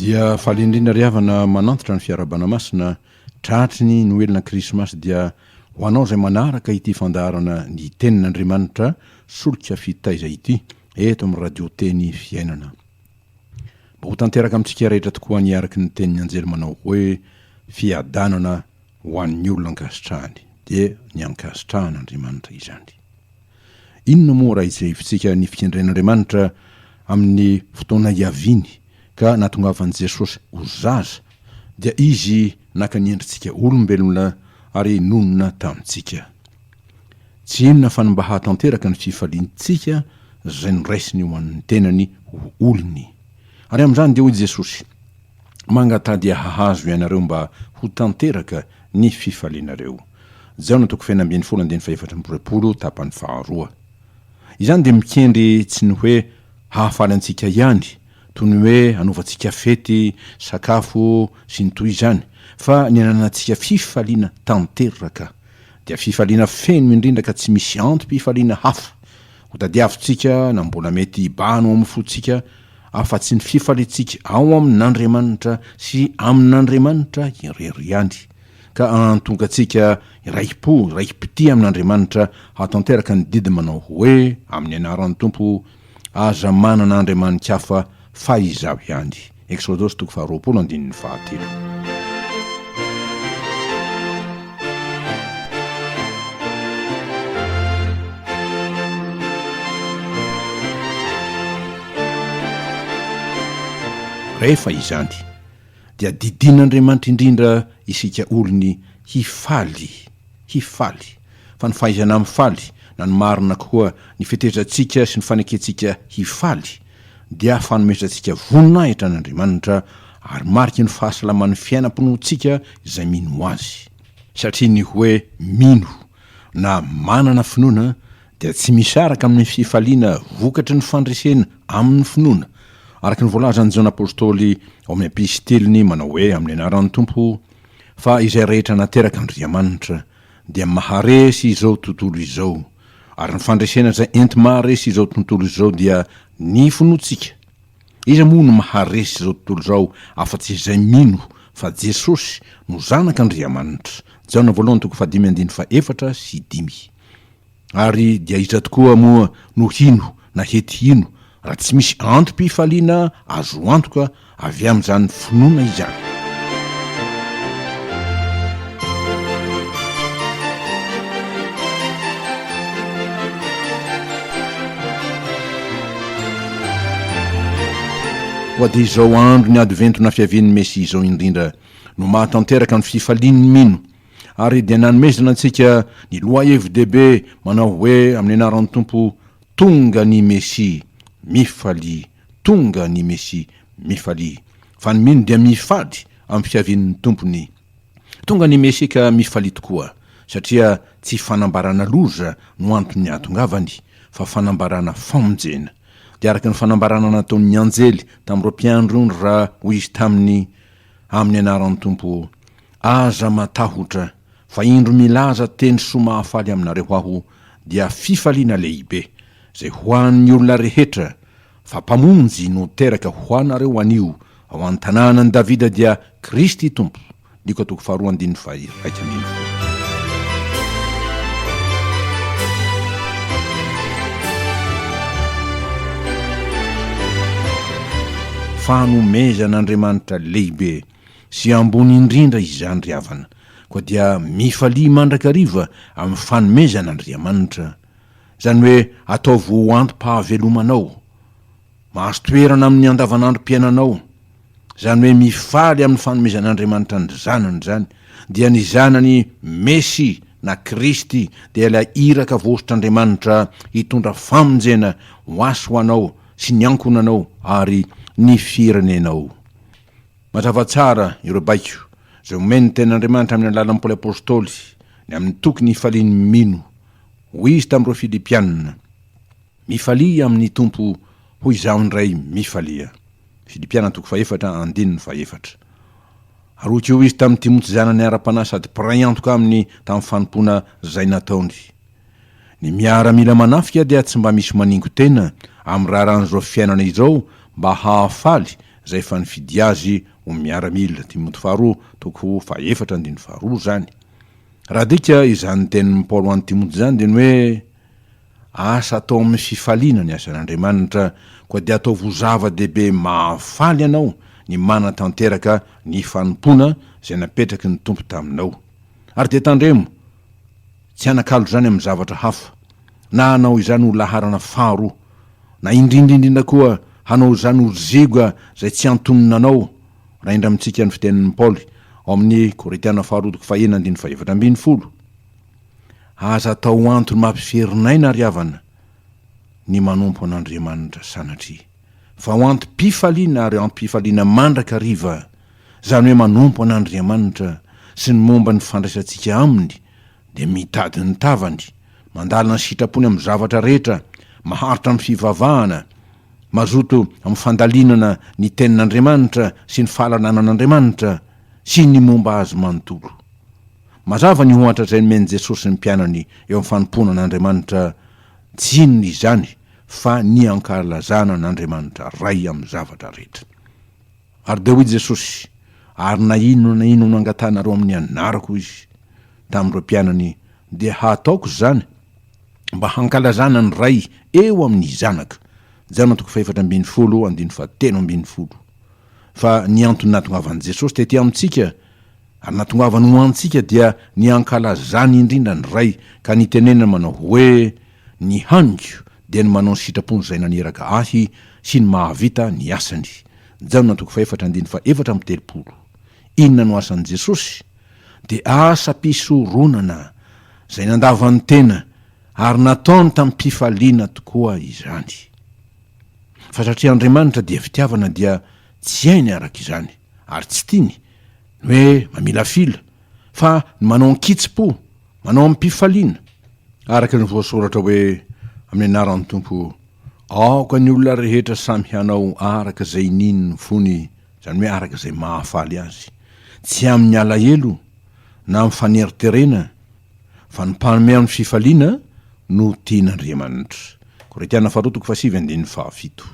Dia faly indrindra ry havana manantitra ny fiarahabana masina tratry ny noelina krismasy dia ho anao izay manaraka ity fandaharana ny tenin'Andriamanitra solika fitaiza ity eto amin'ny radio teny fiainana. Mba ho tanteraka amintsika rehetra tokoa ny araka ny tenin'ny anjely manao hoe fiadanana Ho an'ny olona ankasitrahany dia ny ankasitrahana Andriamanitra izany. Inona moa raha ijehivintsika ny fikendren'Andriamanitra amin'ny fotoana hiaviany ka nahatongavan'i Jesosy ho zaza dia Izy naka ny endritsika olombelona ary nonina tamintsika. Tsy inona fa ny mba hahatanteraka ny fifaliantsika izay noraisiny ho an'ny tenany ho olony. Ary amin'izany dia hoy Jesosy. Mangatadia hahazo ianareo mba ho tanteraka ny fifalianareo. Jaona toko fahena ambin'ny folo andininy fahefatra amby roapolo, tapany faharoa. Izany dia mikendry tsy ny hoe hahafaly antsika ihany, toy ny hoe hanaovantsika fety, sakafo, sy ny toy izany, fa ny hananantsika fifaliana tanteraka. Dia fifaliana feno indrindra ka tsy misy antom-pifaliana hafa hotadiavintsika na mbola mety hibahana ao amin'ny fontsika, afa-tsy ny fifaliantsika ao amin'Andriamanitra sy amin'Andriamanitra irery ihany, ka hahatonga antsika irai-po, irai-pitia amin'Andriamanitra hahatanteraka ny didy manao hoe, Amin'ny anaran'ny Tompo, aza manana andriamani-kafa fa Izaho ihany. Eksodosy toko faharoapolo andininy fahatelo. Rehefa izany, dia didian'Andriamanitra indrindra isika olony hifaly, hifaly, fa ny fahaizana mifaly, na ny marina koa, ny fetezantsika sy ny fanekentsika hifaly, dia fanomezan antsika voninahitra an' Andriamanitra ary mariky ny fahasalaman' ny fiainam-pinoantsika izay mino ho Azy. Satria ny hoe mino na manana finoana dia tsy misaraka amin' ny fifaliana vokatry ny fandresena amin' ny finoana, araka ny voalazan' i Jaona Apôstôly ao amin' ny Epistiliny manao hoe amin' ny anaran' ny Tompo, fa izay rehetra naterak' Andriamanitra, dia maharesy izao tontolo izao, ary ny fandresena izay enti-maharesy izao tontolo izao dia ny finoantsika. Iza moa no maharesy izao tontolo izao afa-tsy izay mino fa Jesosy no Zanak'Andriamanitra? Jaona voalohany toko fahadimy andininy fahefatra sy dimy. Ary dia iza tokoa moa no hino na hety hino raha tsy misy antom-pifaliana azo antoka avy amin'izany finoana izany? Koa dia izao andron'ny Advento na Fiavian'ny Mesia izao indrindra no mahatanteraka ny fifalian'ny mino. ary dia nanomezana antsika ny lohahevi-dehibe manao hoe amin'ny anaran'ny Tompo, Tonga ny Mesia! Mifalia! Tonga ny Mesia! Mifalia! Fa ny mino dia mifady amin'ny fiavian'ny Tompony. Tonga ny Mesia ka mifalia tokoa, satria tsy fanambarana loza no anton'ny hahatongavany, fa fanambarana famonjena. Dia araka ny fanambarana nataon'ny anjely tamin'ireo mpiandrony raha hoy izy taminy, Amin'ny anaran'ny Tompo, Aza matahotra, fa indro milaza teny soa mahafaly aminareo aho, dia fifaliana lehibe, izay ho an'ny olona rehetra, fa Mpamonjy no teraka ho anareo anio ao an-tanànan'i Davida dia Kristy Tompo. Lioka toko faharoa andininy faha-iraika ambin'ny folo. Fanomezan'Andriamanitra lehibe. sy ambony indrindra izany ry havana, koa dia mifalia mandrakariva amin'ny fanomezan' Andriamanitra, izany hoe ataovy ho antom-pahavelomanao, mahazo toerana amin'ny andavanandrom-piainanao, izany hoe mifaly amin'ny fanomezan' Andriamanitra ny Zanany izany, dia ny Zanany Mesy na Kristy dia ilay Iraka vosotr' Andriamanitra hitondra famonjena ho ahy sy ho anao sy ny ankohonanao ary ny firenenao. Mazava tsara ireo baiko izay omen'ny Tenin'Andriamanitra amin'ny alalan'ny Paoly Apostoly ny amin'ny toky ny hifalian'ny mino. Hoy izy tamin'ireo Filipiana, Mifalia amin'ny Tompo, hoy izaho indray, mifalia. Filipiana toko fahefatra, andininy fahefatra. Ary hoy koa izy tamin'i Timoty zanany ara-panahy sady mpiray antoka aminy tamin'ny fanompoana izay nataony. Ny miaramila manafika dia tsy mba misy maningo tena amin'ny raharahan'izao fiainana izao mba hahafaly izay efa nifidy azy ho miaramila, Timoty faharoa toko fahefatra andininy faharoa izany. Raha adika izany tenin'i Paoly ho an'i Timoty izany dia ny hoe, Asa atao amin'ny fifaliana ny asan'Andriamanitra, koa dia ataovy ho zava-dehibe mahafaly anao ny manatanteraka ny fanompoana izay napetraky ny Tompo taminao. Ary dia tandremo, Tsy hanakalo izany amin'ny zavatra hafa, na hanao izany ho laharana faharoa, na indrindra indrindra koa hanao izany ho ziga izay tsy antonona anao, raha indra amintsika ny fitenin'i Paoly ao amin'ny Korintiana Faharoa toko fahena andininy fahefatra ambin'ny folo. Aza atao antony mampiferin'aina ry havana ny manompo an'Andriamanitra sanatria, fa ho antom-pifaliana ary ampifaliana mandrakariva Izany hoe manompo an'Andriamanitra sy ny momba ny fandraisantsika Aminy, dia mitady ny tavany, mandalina ny sitrapony amin'ny zavatra rehetra, maharitra amin'ny fivavahana, mazoto amin'ny fandalinana ny Tenin'Andriamanitra sy ny fahalalana an'Andriamanitra sy ny momba Azy manontolo. Mazava ny ohatra izay nomen'i Jesosy ny mpianany eo amin'ny fanompoana an'Andriamanitra, tsy inona izany fa ny ankalazana an'Andriamanitra Ray amin'ny zavatra rehetra. Ary dia hoy Jesosy, Ary na inona na inona angatahanareo amin'ny anarako, hoy Izy, tamin'ireo mpianany, dia hataoko izany, mba hankalazana ny Ray eo amin'ny Zanaka. Jaona toko fahefatra ambin'ny folo, andininy fahatelo ambin'ny folo. Fa ny antony nahatongavan'i Jesosy tety amintsika, ary nahatongavany ho antsika, dia ny hankalazany indrindra ny Ray, ka nitenenany manao hoe, Ny haniko dia ny manao ny sitrapon'izay naniraka ahy sy ny mahavita ny asany. Jaona toko fahefatra andininy fahefatra amby telopolo. Inona no asan'i Jesosy? Dia asam-pisoronana, izay nandava ny tena, ary nataony tamim-pifaliana tokoa izany. Fa satria Andriamanitra dia fitiavana dia tsy hainy araka izany. Ary tsy tiany ny hoe mamilafila, fa ny manao an-kitsim-po, manao amim-pifaliana, araka ny voasoratra hoe, Amin'ny anaran'ny Tompo, aoka ny olona rehetra samy hanao araka izay iniany ny fony, izany hoe araka izay mahafaly azy, tsy amin'ny alahelo na amin'ny faneriterena, fa ny mpanome amin'ny fifaliana no tian'Andriamanitra. Korintiana Faharoa toko fahasivy andininy fahafito.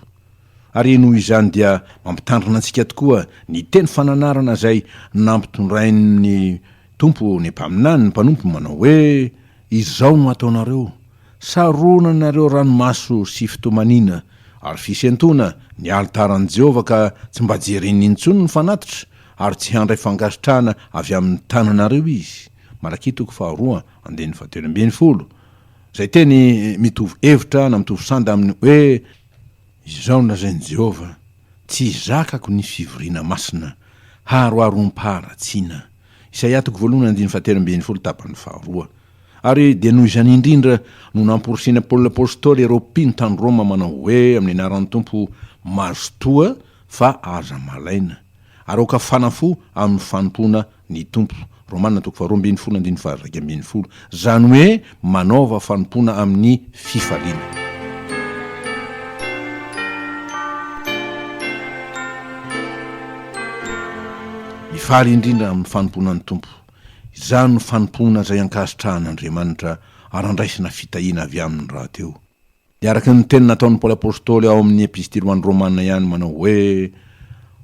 Ary noho izany dia mampitandrina antsika tokoa ny teny fananarana izay nampitondrain'ny Tompo ny mpaminany ny mpanompo manao hoe, Izao no hataonareo, saronanareo ranomaso sy fitomaniana ary fisentoana ny alitaran'i Jehovah ka tsy mba jereny intsony ny fanatitra ary tsy handray fankasitrahana avy amin'ny tananareo izy, Malakia toko faharoa andininy fahatelo ambin'ny folo, izay teny mitovy hevitra na mitovy sanda amin'ny hoe, Izao no lazain'i Jehovah, Tsy zakako ny fivoriana masina haroharom-paharatsiana, Isaia toko voalohany andininy fahatelo ambin'ny folo tapany faharoa Ary dia noho izany indrindra no namporisihina Paoly apostoly ireo mpino tany Roma manao hoe amin'ny anaran'ny Tompo mazotoa fa aza malaina, ary aoka fanafo amin'ny fanompoana ny Tompo. Romana toko faharoa ambin'ny folo andininy faha-iraika ambin'ny folo. Izany hoe manaova fanompoana amin'ny fifaliana. Mifaly indrindra amin'ny fanompoana ny Tompo. Izany no fanompoana izay ankasitrahan'Andriamanitra ary andraisana fitahiana avy Aminy rahateo. Dia araka ny teny nataon'i Paoly Apostoly ao amin'ny Epistily ho an'ny Romana ihany manao hoe,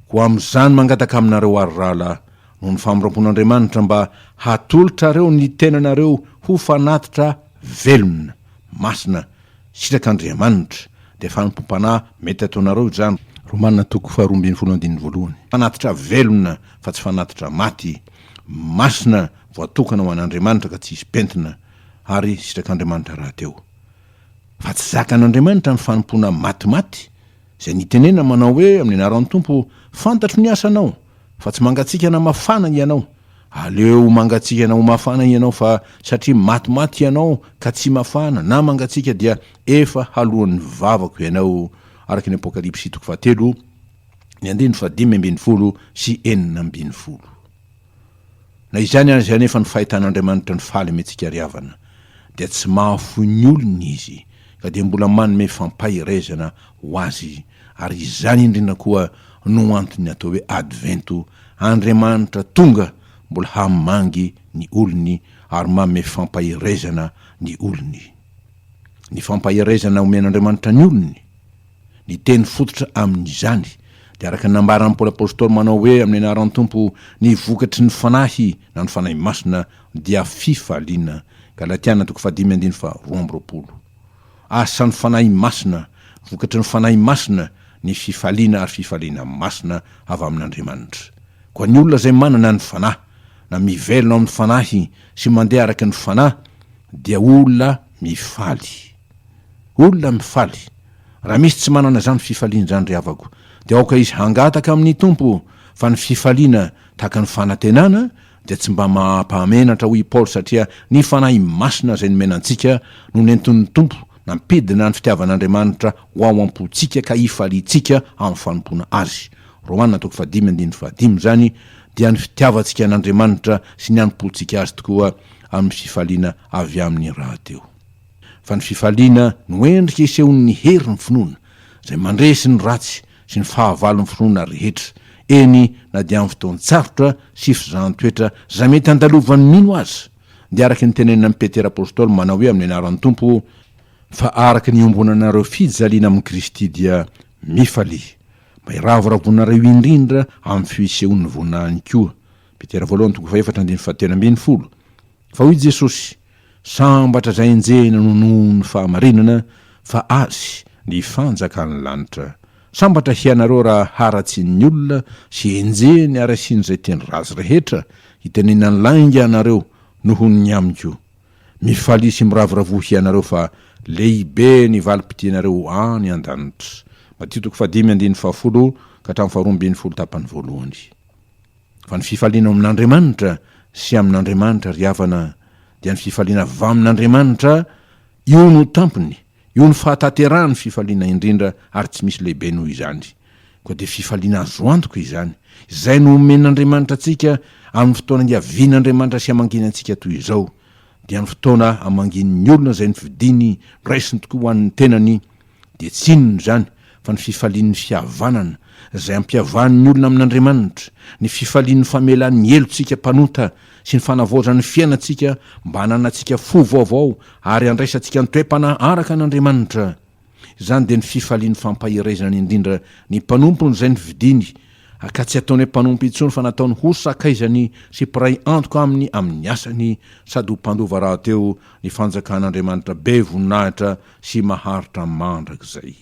Koa amin'izany mangataka aminareo aho ry rahalahy, noho ny famoram-pon'Andriamanitra mba hatolotrareo ny tenanareo ho fanatitra velona, masina, sitrak'Andriamanitra, dia fanompoam-panahy mety ataonareo izany. Romana toko faharoa ambin'ny folo andininy voalohany. Fanatitra velona fa tsy fanatitra maty, masina, voatokana ho an'Andriamanitra ka tsy hisy pentina, ary sitrak'Andriamanitra rahateo. fa tsy zakan'Andriamanitra ny fanompoana matimaty, izay nitenenina manao hoe amin'ny anaran'ny Tompo, Fantatro ny asanao, fa tsy mangatsikana mafana hianao, aleo ho mangatsikana ho mafana hianao fa satria matimaty hianao ka tsy mafana na mangatsiaka dia efa haloan'ny vavako hianao, araka ny Apokalypsy toko fahatelo, ny andininy fahadimy ambin'ny folo sy enina ambin'ny folo. Na izany aza anefa ny fahitan'Andriamanitra ny faly amintsika ry havana dia tsy mahafoy ny olony Izy ka dia mbola manome fampaherezana ho azy ary izany indrindra koa no antony atao hoe Advento, Andriamanitra tonga mbola hamangy ny olony ary manome fampaherezana ny olony. Ny fampaherezana omen'Andriamanitra ny olony. Ny teny fototra amin' izany dia araka ny nambaran' ny Paoly Apôstôly manao hoe amin' ny anaran' Tompo ny vokatry ny Fanahy na ny Fanahy Masina dia fifaliana, Galatiana toko fahadimy andininy faharoa amby roapolo. Asa ny Fanahy Masina, vokatry ny Fanahy Masina, ny fifaliana ary fifaliana masina avy amin' Andriamanitra. Koa ny olona izay manana ny Fanahy, na mivelona ao amin' ny Fanahy sy mandeha araka ny Fanahy dia olona mifaly. Olona mifaly. Raha misy tsy manana izany fifaliana izany ry havako, dia aoka izy hangataka amin'ny Tompo, fa ny fifaliana tahaka ny fanantenana dia tsy mba maha-mpahamenatra hoy i Paoly satria ny Fanahy Masina izay nomena antsika no nentin'ny Tompo nampidina ny fitiavan'Andriamanitra ho ao am-pontsika ka hifaliantsika amin'ny fanompoana Azy. Romana toko fahadimy andininy fahadimy izany dia ny fitiavantsika an'Andriamanitra sy ny hanompontsika Azy tokoa amin'ny fifaliana avy aminy rahateo. Fa ny fifaliana no endrika isehoan'ny herin'ny finoana, izay mandresy ny ratsy sy ny fahavalon'ny finoana rehetra, eny na dia amin'ny fotoan-tsarotra sy fizahan-toetra izay mety handalovan'ny mino aza, dia araka ny tenenin'i Petera apostoly manao hoe amin'ny anaran'ny Tompo, Fa araka ny iombonanareo fijaliana amin'i Kristy dia mifalia, mba hiravoravonareo indrindra amin'ny fisehoan'ny voninahiny koa, Petera voalohany toko fahefatra andininy fahatelo ambin'ny folo, fa hoy Jesosy, Sambatra izay enjehina no noho ny fahamarinana fa Azy ny fanjakan'ny lanitra. Sambatra hianareo raha haratsian'ny olona sy enjehiny ary asian'izay teny ratsy rehetra hitenenany lainga anareo noho ny amiko. Mifalia sy miravoravoa hianareo fa lehibe ny valim-pidianareo any an-danitra. Matio toko fahadimy andininy fahafolo ka hatramin'ny faharoa ambin'ny folo tapany voalohany. Fa ny fifaliana ao amin'Andriamanitra sy amin'Andriamanitra, ry havana, dia ny fifaliana avy amin'Andriamanitra, io no tampony, io no fahatanterahan'ny fifaliana indrindra ary tsy misy lehibe noho izany. Koa dia fifaliana azo antoka izany, izay nomen'Andriamanitra antsika amin'ny fotoana hiavian'Andriamanitra sy hamanginy antsika toy izao, dia ny fotoana hamanginin'ny olona izay nofidiny, noraisiny tokoa ho an'ny tenany, dia tsy inona izany fa ny fifalian'ny fihavanana izay ampiavahan'ny olona amin'Andriamanitra, ny fifalian'ny famelan'ny helotsika mpanota sy ny fanavaozan'ny fiainantsika mba hananantsika fo vaovao ary handraisantsika ny toe-panahy araka an'Andriamanitra. Izany dia ny fifalian'ny fampaherezana indrindra ny mpanompony izay novidiny, ka tsy ataony hoe mpanompo intsony fa nataony ho sakaizany sy mpiray antoka aminy amin'ny asany sady ho mpandova rahateo ny fanjakan'Andriamanitra be voninahitra sy maharitra mandrakizay.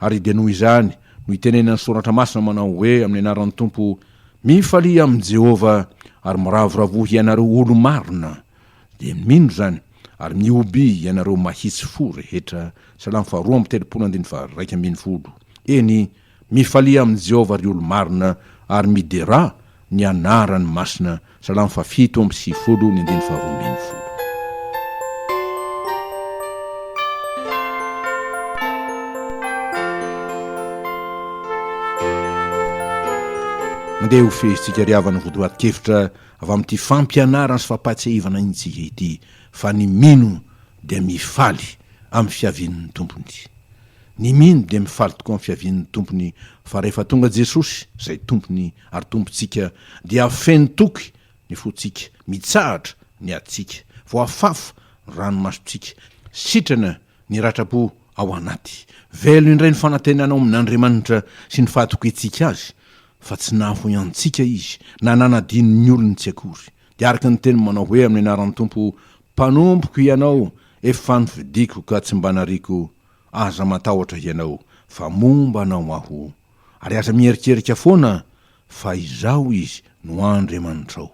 Ary dia noho izany no itenenan'ny Soratra Masina manao hoe amin'ny anaran'ny Tompo, Mifalia amin'i Jehovah, ary miravoravoa hianareo olo-marina, dia mino izany, ary mihoby ianareo mahitsy fo rehetra, Salamo faharoa amby telopolo andininy faharaika ambin'ny folo, eny, Mifalia amin'i Jehovah ry olo-marina, ary miderà ny anarany masina. Salamo fahafito amby sivifolo, ny andininy faharoa ambin'ny folo. Mandeha ho fehezintsika ry havana ny votoatin-kevitra avy amin'ity fampianarana sy fampahatsiahivana antsika ity, fa ny mino dia mifaly amin'ny fiavian'ny Tompony. Ny mino dia mifaly tokoa amin'ny fiavian'ny Tompony fa rehefa tonga Jesosy, izay Tompony ary Tompontsika, dia feno toky ny fontsika, mitsahatra ny adintsika, voafafa ny ranomasontsika, sitrana ny ratram-po ao anaty. Velona indray ny fanantenana ao amin'Andriamanitra sy ny fahatokiantsika Azy fa tsy nahafoy antsika Izy na nanadino ny olony tsy akory. Dia araka ny teniny manao hoe amin'ny anaran'ny Tompo, Mpanompoko hianao efa nofidiko ka tsy mba nariako aza matahotra hianao fa momba anao aho ary aza mieritreritra foana fa izaho izy no Andriamanitrao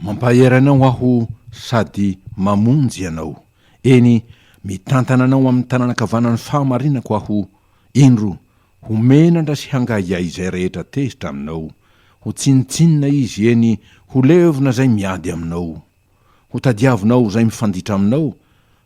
mampahery anao aho sady mamonjy anao eny mitantana anao amin'ny tanana ankavanan'ny fahamarinako aho indro ho menatra sy hangahiahy izay rehetra tezitra aminao ho tsinontsinona izy eny ho levona izay miady aminao Ho tadiavinao izay mifanditra aminao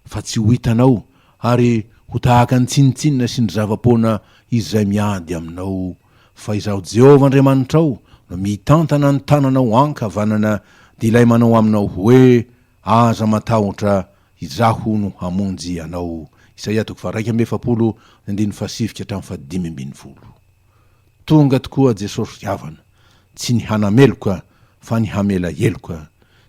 fa tsy ho hitanao ary ho tahaka ny tsinontsinona sy ny zava-poana izay miady aminao, fa Izaho Jehovah Andriamanitrao no mitantana ny tananao ankavanana dia ilay manao aminao hoe, Aza matahotra, Izaho no hamonjy anao. Isaia toko faharaika amby efapolo, ny andininy fahasivy ka hatramin'ny fahadimy ambin'ny folo. Tonga tokoa Jesosy ry havana, tsy ny hanameloka fa ny hamela heloka,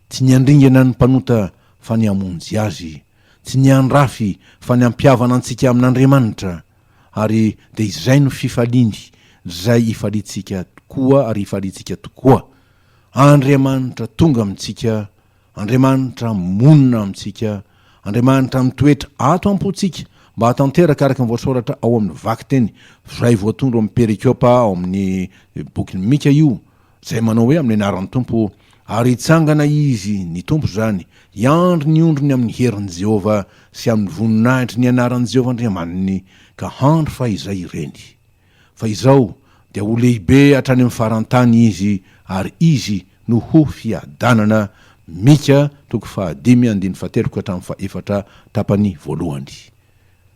tsy ny handringana ny mpanota fa ny hamonjy azy, tsy ny handrafy fa ny hampihavana antsika amin'Andriamanitra, ary dia izay no fifaliany, izay hifaliantsika tokoa ary hifaliantsika tokoa, Andriamanitra tonga amintsika, Andriamanitra monina amintsika, Andriamanitra mitoetra ato am-pontsika, mba hahatanteraka araka ny voasoratra ao amin'ny vakiteny izay voatondro amin'ny perikôpa ao amin'ny bokin'i Mika io, izay manao hoe amin'ny anaran'ny Tompo, ary hitsangana Izy, ny Tompo izany, hiandry ny ondriny amin'ny herin'i Jehovah sy amin'ny voninahitry ny anaran'i Jehovah Andriamaniny, ka handry fahizay ireny. Fa izao dia ho lehibe hatrany amin'ny faran-tany izy ary izy no ho fiadanana, Mika toko fahadimy andininy fahateloko hatramin'ny fahefatra, tapany voalohany.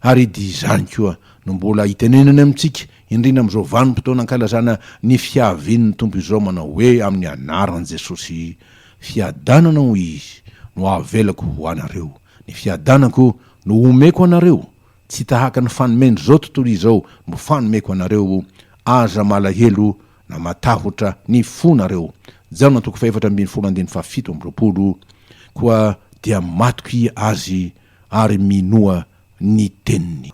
Ary dia izany koa no mbola itenenany amintsika, indrindra amin'izao vanim-potoana ankalazana ny fiavian'ny Tompo izao, manao hoe, amin'ny anaran'i Jesosy, Fiadanana, hoy Izy, no avelako ho anareo, ny fiadanako no omeko anareo, Tsy tahaka ny fanomendrizao tontolo izao no fanomeko anareo, aza malahelo na matahotra ny fo nareo. Jaona toko fahefatra ambin'ny folo andininy fahafito amby roapolo Koa dia matoky Azy ary minoa ny teniny.